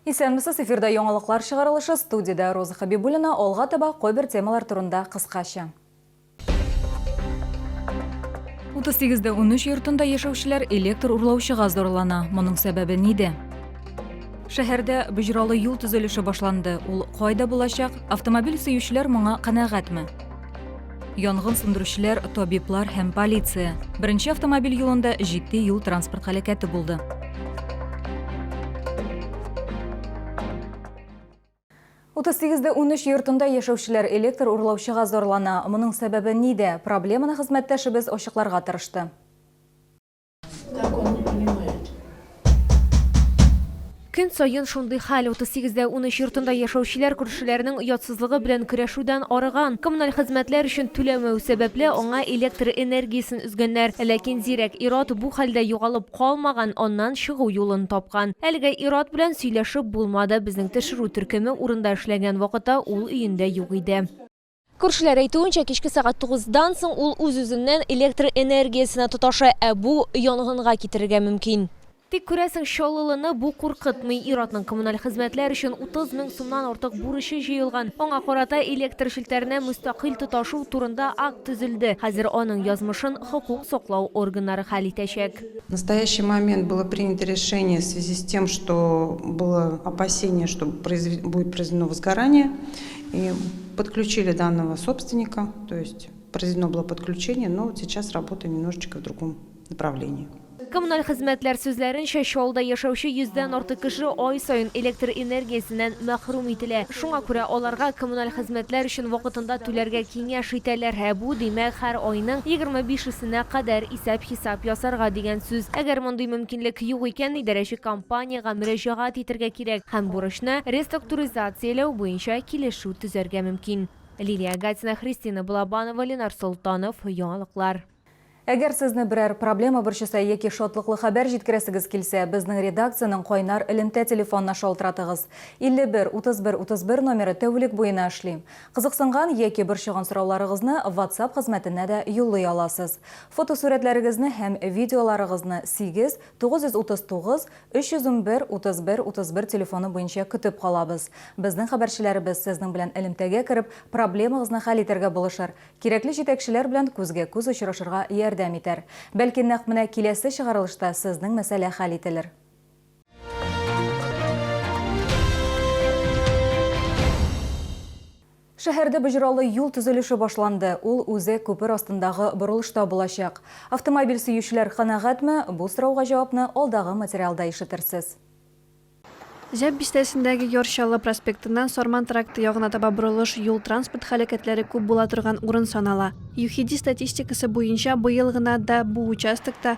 Исәнмесез, эфирда яңалыклар чыгарылышы, студиядә Роза Хәбибуллина, алга таба кайбер темалар турында кыскача. 38 дә 13 йортында яшәүчеләр электр урлаучыга зарлана. Моның сәбәбе ниде? Шәһәрдә боҗралы юл төзелеше башланды. Ул кайда булачак? Автомобиль сөючеләр моңа канәгатьме? янгын сүндерүчеләр, табиблар һәм полиция. Беренче автомобиль юлында җитди юл транспорт һәлакәте булды. Утыз сигездә унөч йортында яшәүчеләр электр урлаучыга зарлана. Моның сәбәбе нидә? Проблеманы хезмәттәшебез ачыкларга тырышты. Көн саен шундый хәл. 38 дә 13 йортында яшәүчеләр күршеләренең оятсызлыгы белән көрәшүдән арыган. Коммуналь хезмәтләр өчен түләмәү сәбәпле, аңа электр энергиясен өзгәннәр. Ләкин зирәк ир-ат бу хәлдә югалып калмаган, аннан чыгу юлын тапкан. Әлегә ир-ат белән сөйләшеп булмады. Безнең тешерү төркеме урында эшләгән вакытта ул өендә юк иде. Күршеләр әйтүенчә, кичке сәгать тугыздан соң ул үз-үзеннән электр энергиясенә тоташа, ә бу янгынга китерергә мөмкин. Тик, күрәсең, Чаллылыны бу куркытмый. Ир-атның коммуналь хезмәтләр өчен 30 мең сумнан артык бурычы җыелган. Аңа карата электр челтәренә мөстәкыйль тоташу турында акт төзелде. Хәзер аның язмышын хокук саклау органнары хәл итәчәк. В настоящий момент было принято решение в связи с тем, что было опасение, что будет произведено возгорание, И подключили данного собственника, то есть произведено было подключение, но вот сейчас работа немножечко в другом направлении. Коммуналь хезмәтләр сүзләренчә, Чаллыда яшәүче йөздән артык кеше ай саен электр энергиясеннән мәхрүм ителә. Шуңа күрә аларга коммуналь хезмәтләр өчен вакытында түләргә киңәш итәләр. Ә бу, димәк, һәр айның егерме бишесенә кадәр Исәп-хисап ясарга дигән сүз. Әгәр мондый мөмкинлек юк икән, идарәче компаниягә мөрәҗәгать итәргә кирәк һәм бурычны реструктуризацияләү буенча килешү төзәргә мөмкин. Лилия Гатина, Христина Балабанова, Ленар Солтанов, Яңалыклар. Әгәр сезне берәр проблема борчыса яки шатлыклы хәбәр җиткерәсегез килсә, безнең редакциянең кайнар элемтә телефонына шалтыратыгыз. 51 31 31 номеры тәүлек буена эшли. Кызыксынган яки борчыган сорауларыгызны WhatsApp хезмәтенә дә юллый аласыз. Фотосурәтләрегезне һәм видеоларыгызны 8 939 311 31 31 телефоны буенча көтеп калабыз. Безнең хәбәрчеләребез сезнең белән элемтәгә кереп, проблемагызны хәл итәргә булышыр, кирәкле җитәкчеләр белән күзгә-күз очрашырга ярдәм итәр. Бәлки нәкъ менә киләсе чыгарылышта сезнең мәсьәлә хәл ителер. Шәһәрдә боҗралы юл төзелеше башланды. Ул үзе күпер астындагы борылышта булачак. Автомобиль сөючеләр канәгатьме? Бу сорауга җавапны алдагы материалда ишетерсез. Җәп бистәсендәге Яр Чаллы проспектыннан Сарман тракты ягына таба борылыш юл-транспорт һәлакәтләре күп була торган урын санала. ЮХИДИ статистикасы буенча, быел гына да бу участокта,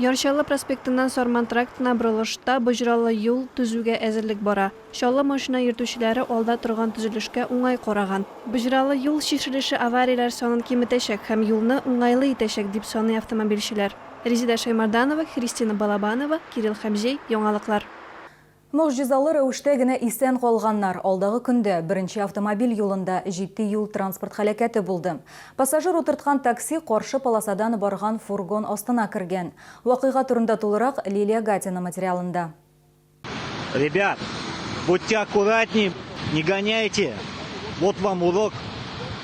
Яр Чаллы проспектыннан Сарман трактына борылышта боҗралы юл төзүгә әзерлек бара. Чаллы машина йөртүчеләре алда торган төзелешкә уңай караган. Боҗралы юл чишелеше аварияләр санын киметәчәк һәм юлны уңайлы итәчәк, дип саный автомобильчеләр. Резеда Шәймарданова, Христина Балабанова, Кирилл Хәмзей, Яңалыклар. Могҗизалы рәвештә генә исән калганнар. Алдагы көндә, беренче автомобиль юлында, җитди юл-транспорт һәлакәте булды. Пассажир утырткан такси каршы полосадан барган фургон астына кергән. Вакыйга турында тулырак, Лилия Гатина материалында. Ребят! Будьте аккуратней! Не гоняйте! Вот вам урок!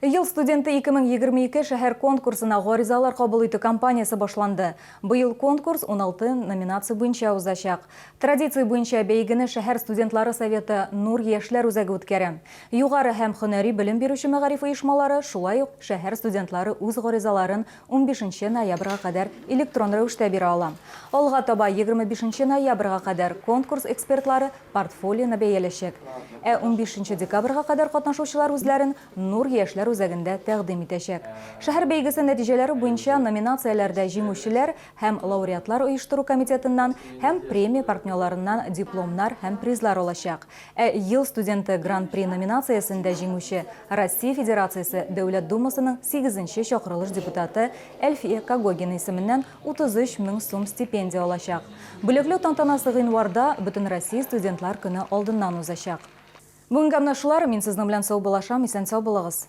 Ел студенты 2022 шәһәр конкурсына гаризалар кабул итү кампаниясе башланды. Быел конкурс 16 номинация буенча узачак. Традиция буенча бәйгене шәһәр студентлары советы Нур яшьләр үзәге үткәрә. Югары һәм һөнәри белем бирүче мәгариф оешмалары, шулай ук шәһәр студентлары үз гаризаларын Унбишенче ноябрьга кадәр электрон рәвештә бирә ала. Алга таба егерме бишенче ноябрьга кадәр конкурс экспертлары портфолионы бәяләчәк. Ә унбишенче декабрьга кадәр катнашучылар үзләрен Нур яшьләр үзәгендә тәкъдим итәчәк. Шәһәр бәйгесе нәтиҗәләре буенча номинацияләрдә җиңүчеләр һәм лауреатлар оештыру комитетыннан һәм премия партнерларыннан дипломнар һәм призлар алачак. Ә Ел студенты Гран-при номинациясендә җиңүче, Россия Федерациясе Дәүләт Думасының сигезенче чакырылыш депутаты Әлфия Когогина исеменнән 33 мең сум стипендия алачак. Бүләкләү тантанасы гыйнварда, Бөтенроссия студентлар көне алдыннан узачак. Бүгенгә менә шулар, мин сезнең белән саубуллашам, исән-сау булыгыз!